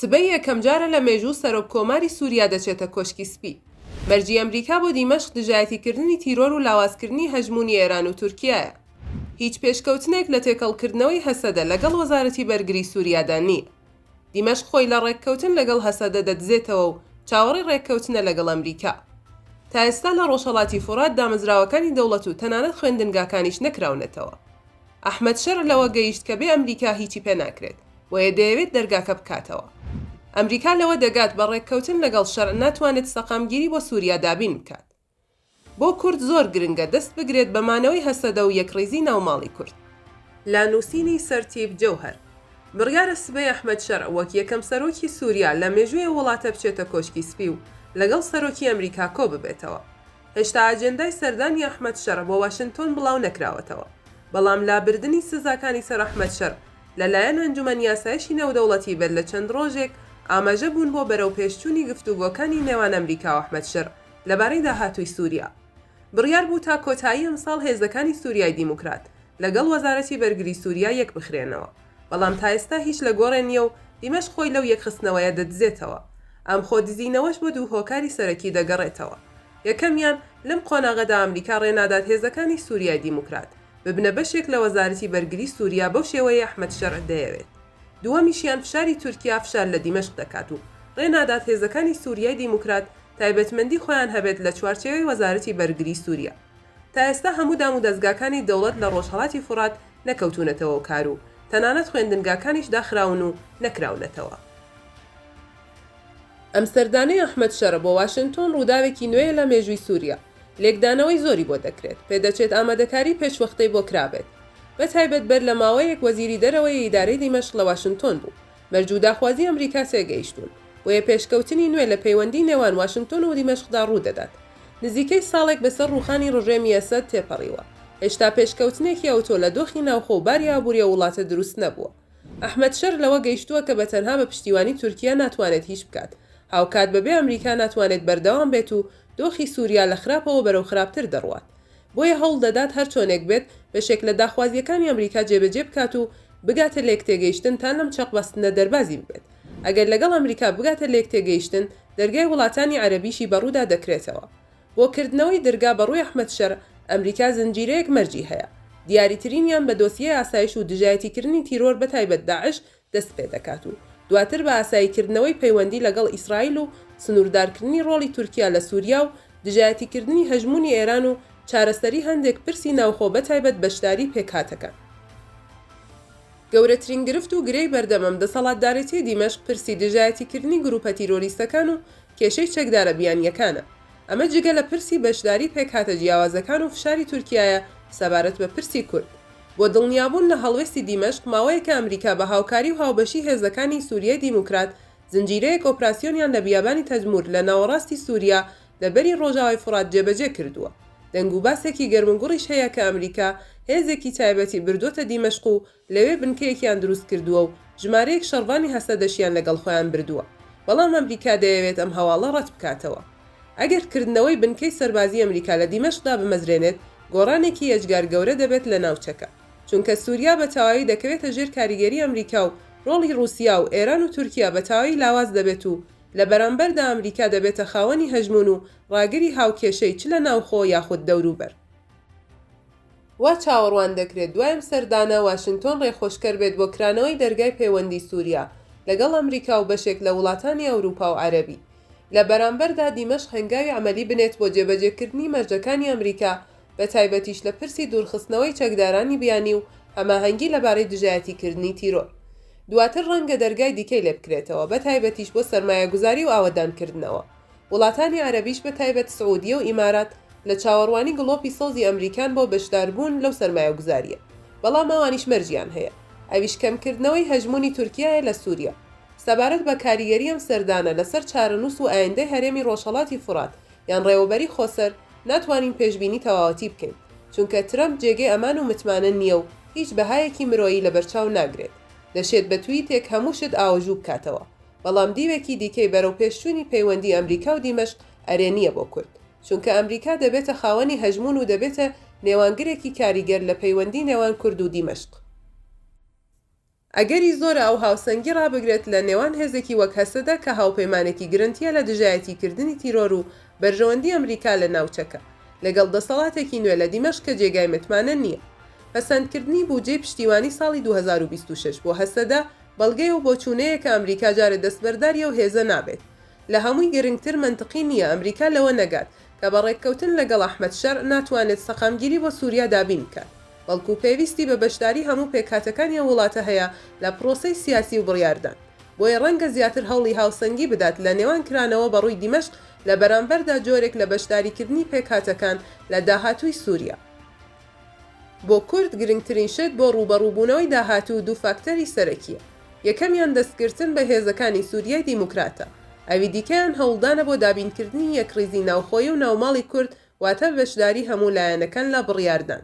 سبەی یەکەمجارە لە مێژوو سەرۆک کۆماری سوریا دەچێتە کۆشکی سپی. مەرجی ئەمریکا بۆ دیمەشق دژایەتیکردنی تیرۆر و لاوازکردنی هەژموونی ئێران و تورکیایە. هیچ پێشکەوتنێک لە تێکەڵکردنەوەی هەسەدە لەگەڵ وەزارەتی بەرگری سوریادا نییە. دیمەشق خۆی لە ڕێککەوتن لەگەڵ هەسەدە دەدزێتەوە و چاوەڕێی ڕێککەوتنە لەگەڵ ئەمریکا. تا ئێستا لە ڕۆژهەڵاتی فورات دامەزراوەکانی دەوڵەت و تەنانەت خوێندنگاکانیش نەکراونەتەوە. ئەحمەد شەرع لەوە گەیشت کە بێ ئەمریکا هیچی پێ ناکرێت، بۆیە دەیەوێت دەرگاکە بکاتەوە. ئەمریکا لەوە دەگات بە ڕێککەوتن لەگەڵ شەرع ناتوانێت سەقامگیری بۆ سوریا دابین بکات. بۆ کورد زۆر گرنگە دەست بگرێت بە مانەوەی هەسەدە و یەکڕیزی ناو ماڵی کورد. لە نووسینی سەرتیپ جەوهەر، بڕیارە سبەی ئەحمەد شەرع وەک یەکەم سەرۆکی سوریا لە مێژووی ئەو وڵاتە بچێتە کۆشکی سپی و لەگەڵ سەرۆکی ئەمریکا کۆببێتەوە. هێشتا ئاجێندای سەردانی ئەحمەد شەرع بۆ واشنتۆن بڵاو نەکراوەتەوە، بەڵام لابردنی سزاکانی سەر ئەحمەد شەرع لە لایەن ئەنجومەنی ئاسایشی نێودەوڵەتی بەر لە چەند ڕۆژێک ئاماژە بوون بۆ بەرەوپێشچوونی گفتوگۆکانی نێوان ئەمریکا و ئەحمەد شەرع. لەبارەی داهاتووی سووریا، بڕیار بوو تا کۆتایی ئەمساڵ هێزەکانی سووریای دیموکرات لەگەڵ وەزارەتی بەرگری سووریا یەکبخرێنەوە، بەڵام تا ئێستا هیچ لە گۆڕێ نییە و دیمەشق خۆی لەو یەکخستنەوەیە دەدزێتەوە. ئەم خۆ دزینەوەش بۆ دوو هۆکاری سەرەکی دەگەڕێتەوە. یەکەمیان، لەم قۆناغەدا ئەمریکا ڕێ نادات هێزەکانی سووریای دیموکرات ببنە بەشێک لە وەزارەتی بەرگری سووریا بەو شێوەیەی ئەحمەد شەرع دەیەوێت. دووەمیشیان، فشاری تورکیا فشار لە دیمەشق دەکات و ڕێ نادات هێزەکانی سووریای دیموکرات تایبەتمەندی خۆیان هەبێت لە چوارچێوەی وەزارەتی بەرگری سوریا تا ئێستا هەموو دام و دەزگاکانی دەوڵەت لە ڕۆژهەڵاتی فورات نەکەوتوونەتەوەو کارو تەنانەت خوێندنگاکانیش داخراون و نەکراونەتەوە. ئەم سەردانەی ئەحمەد شەرە بۆ واشنتۆن ڕووداوێکی نوێیە لە مێژووی سوریا، لێکدانەوەی زۆری بۆ دەکرێت، پێدەچێت ئامادەکاری پێشوەختەی بۆ کرابێت، بەتایبەت بەر لە ماوەیەک وەزیری دەرەوەی ئیدارەی دیمەشق لە واشنتۆن بوو، مەرج و داخوازی ئەمریکا تێگەیشتوون، بۆیە پێشکەوتنی نوێ لە پەیوەندی نێوان واشنتۆن و دیمەشقدا ڕوودەدات. نزیکەی ساڵێک بەسەر ڕووخانی ڕژێمی ئەسەد تێپەڕیوە، هێشتا پێشکەوتنێکی ئەوتۆ لە دۆخی ناوخۆ و باری ئابووری ئەو وڵاتە دروست نەبووە. ئەحمەد شەر لەوە گەیشتووە کە بە تەنها بە پشتیوانی تورکیە ناتوانێت هیچ بکات، هاوکات بەبێ ئەمریکا ناتوانێت بەردەوام بێت و دۆخی سووریا لە خراپەوە بەرەو خراپتر دەڕوات. بۆیە هەوڵ دەدات هەر چۆنێک بێت بەشێک لە داخوازییەکانی ئەمریکا جێبەجێ بکات و بگاتە لێکتێگەیشتن تا لەم چەقبەستنە دەربازی ببێت. ئەگەر لەگەڵ ئەمریکا بگاتە لێکتێگەیشتن، دەرگای وڵاتانی عەرەبیشی بەڕوودا دەکرێتەوە. بۆ کردنەوەی درگا بەڕووی ئەحمەد شەرع، ئەمریکا زنجیرەیەک مەرجی هەیە. دیاریترینیان بە دۆسیەی ئاسایش و دژایەتیکردنی تیرۆر بەتایبەت داعش دەست پێ دەکات و دواتر بە ئاساییکردنەوەی پەیوەندی لەگەڵ ئیسرائیل و سنووردارکردنی ڕۆڵی تورکیا لە سووریا و دژایەتیکردنی هەژموونی ئێران و چارەسەری هەندێک پرسی ناوخۆ بەتایبەت بەشداری پێکهاتەکان. گەورەترین گرفت و گرێی بەردەم ئەم دەسەڵاتدارێتیی دیمەشق پرسی دژایەتیکردنی گرووپە تیرۆریستەکان و کێشەی چەکدارە بیانییەکانە. ئەمە جگە لە پرسی بەشداری پێکهاتە جیاوازەکان و فشاری تورکیایە سەبارەت بە پرسی کورد. بۆ دڵنیابوون لە هەڵوێستی دیمەشق، ماوەیەکە ئەمریکا بە هاوکاری و هاوبەشی هێزەکانی سوریای دیموکرات زنجیرەیەک ئۆپراسیۆنیان لە بیابانی تەدمور لە ناوەڕاستی سوریا لە بەری ڕۆژاوای فوڕات جێبەجێ کردووە. دەنگوباسێکی گەرموگوڕیش هەیە کە ئەمریکا هێزێکی تایبەتی بردووەتە دیمەشق و لەوێ بنکەیەکیان دروست کردووە و ژمارەیەک شەڕڤانی هەسەدەشیان لەگەڵ خۆیان بردووە، بەڵام ئەمریکا دەیەوێت ئەم هەواڵە ڕەت بکاتەوە. ئەگەر کردنەوەی بنکەی سەربازی ئەمریکا لە دیمەشق دابمەزرێنێت، گۆڕانێکی یەجگار گەورە دەبێت لە ناوچەکە، چونکە سوریا بە تەواوی دەکەوێتە ژێر کاریگەری ئەمریکا و ڕۆڵی ڕوسیا و ئێران و تورکیا بە تەواوی لاواز دەبێت و لە بەرامبەردا ئەمریکا دەبێتە خاوەنی هەژموون و ڕاگری هاوکێشەی چ لە ناوخۆ یاخود دەوروبەر. وا چاوەڕوان دەکرێت دوای ئەم سەردانە واشنتۆن ڕێخۆشکەر بێت بۆ کرانەوەی دەرگای پەیوەندی سوریا لەگەڵ ئەمریکا و بەشێک لە وڵاتانی ئەوروپا و عەرەبی. لە بەرامبەردا دیمەشق هەنگاوی عەمەلی بنێت بۆ جێبەجێکردنی مەرجەکانی ئەمریکا بە تایبەتیش لە پرسی دوورخستنەوەی چەکدارانی بیانی و هەماهەنگی لەبارەی دژایەتیکردنی تیرۆر. دواتر ڕەنگە دەرگای دیکەی لێبکرێتەوە بە تایبەتیش بۆ سەرمایەگوزاری و ئاوەدانکردنەوە. وڵاتانی عەرەبیش بە تایبەت سعودیە و ئیمارات لە چاوەڕوانی گڵۆپی سەوزی ئەمریکان بۆ بەشداربوون لەو سەرمایەگوزارییە، بەڵام ئەوانیش مەرجیان هەیە، ئەویش کەمکردنەوەی هەژموونی تورکیایە لە سوریا. سەبارەت بە کاریگەری ئەم سەردانە لەسەر چارەنووس و ئایندەی هەرێمی ڕۆژهەڵاتی فورات یان ڕێوەبەری خۆسەر، ناتوانین پێشبینی تەواوەتی بکەین، چونکە ترەمپ جێگەی ئەمان و متمانە نییە و هیچ بەهایەکی مرۆیی لەبەرچاو ناگرێت، دەشێت بە تویتێک هەموو شت ئاوەژوو بکاتەوە. بەڵام دیوێکی دیکەی بەرەوپێشچوونی پەیوەندی ئەمریکا و دیمەشق ئەرێنییە بۆ کورد، چونکە ئەمریکا دەبێتە خاوەنی هەژموون و دەبێتە نێوانگرێکی کاریگەر لە پەیوەندی نێوان کورد و دیمەشق. ئەگەری زۆرە ئەو هاوسەنگی ڕابگرێت لە نێوان هێزێکی وەک هەسەدە کە هاوپەیمانێکی گرنتییە لە دژایەتیکردنی تیرۆر و بەرژەوەندی ئەمریکا لە ناوچەکە، لەگەڵ دەسەڵاتێکی نوێ لە دیمەشق کە جێگای متمانە نییە. پەسەندکردنی بوجەی پشتیوانی ساڵی دوو هەزار و بیست و شەش بۆ هەسەدە بەڵگەیە و بۆچوونەیە کە ئەمریکا جارێ دەستبەرداری ئەو هێزە نابێت. لە هەمووی گرنگتر مەنتقی نییە ئەمریکا لەوە نەگات کە بە ڕێککەوتن لەگەڵ ئەحمەد شەرع ناتوانێت سەقامگیری بۆ سووریا دابین بکات، بەڵکوو پێویستی بە بەشداری هەموو پێکهاتەکانی ئەو وڵاتە هەیە لە پڕۆسەی سیاسی و بڕیاردان. بۆیە ڕەنگە زیاتر هەوڵی هاوسەنگی بدات لە نێوان کرانەوە بە ڕووی دیمەشق لە بەرامبەردا جۆرێک لە بەشداریکردنی پێکهاتەکان لە داهاتووی سووریا. بۆ کورد گرنگترین شت بۆ ڕووبەڕووبوونەوەی داهاتوو دوو فاکتەری سەرەکییە، یەکەمیان دەستگرتن بە هێزەکانی سووریای دیموکراتە، ئەوی دیکەیان هەوڵدانە بۆ دابینکردنی یەکڕیزی ناوخۆیی و ناوماڵی کورد، واتە بەشداری هەموو لایەنەکان لە بڕیاردان.